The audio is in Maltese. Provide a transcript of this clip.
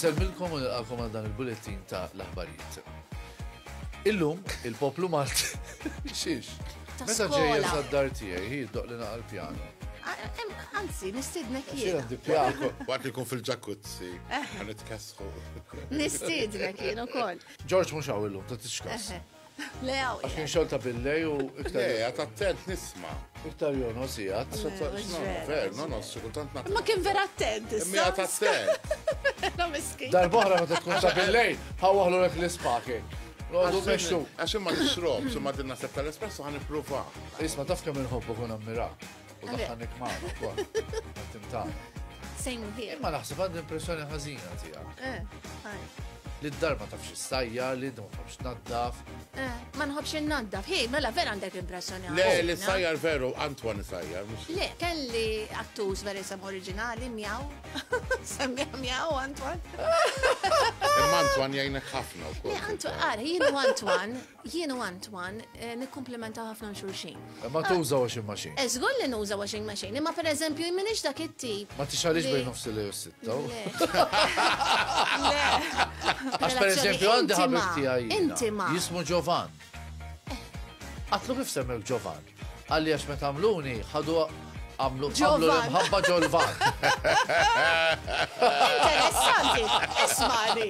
Nselmilkom u nilqakom għal dan il-bulletin ta' l-aħbarijiet. Illum, il-poplu Malti. Xiex? ta' Meta ġej skola. jinsa d-dar tiegħi, hi jiddoq li naqal pjano. A- em, Anzi, nistidnek Xi jiena. għandi pjano? Waqt li jkun fil-ġakuzzi, għan itkessħu. Nistidnek jiena ukoll. Ġorġ mhux hawn illum, ta' tixkas. Eħe. Le hawn. Għax kien xogħol ta' billej u Le, iktar għat attent nisma. iktar jono sigħat. Għax għat mhux xnor, vera, ver, mhux no, no, xikultant naqqa. Ma kien vera attent issa. Mija ta' attent. Vera miskin. Darbohra meta tkun ta' billej, ħawaħlu lek l-ispaki. Għadu meċtu. Għax imma nixrob, imma din naħseb tal-espresso għan ippruva. Isma taf kemm inħobbu kun ammira. U daħħanik maħna kol. Għattim ta' Same here. Imma naħseb għad impressjoni ħazina tija. Eh, li d-dar ma tafx stajja, li d-dar ma tafx naddaf. Eh, ma nħobx naddaf, hej, mela vera għandek impressjoni. Le, li sajjar veru, Antoine sajjar. Le, kelli attus veri sam oriġinali, mjaw, Semmiħ mjaw, Antoine. Imma Antoine jajnek ħafna u kol. Antoine, għar, jienu Antoine, jienu Antoine, eh, nikkomplementa ħafna xurxin. Ma ah. tuża washing machine. Eżgur eh, li nuża washing machine, imma per eżempju, minix dak it-tip. Ma tixħalix bejn nofs li jussittaw. Għax per eżempju, għandi ħabib tijaj. Intima. Jismu Giovan. Eh. Għatlu kif semmek Giovan? Qalli għax meta għamluni, ħadu għamlu għamlu l-imħabba ġolvan. Interessanti, ismani.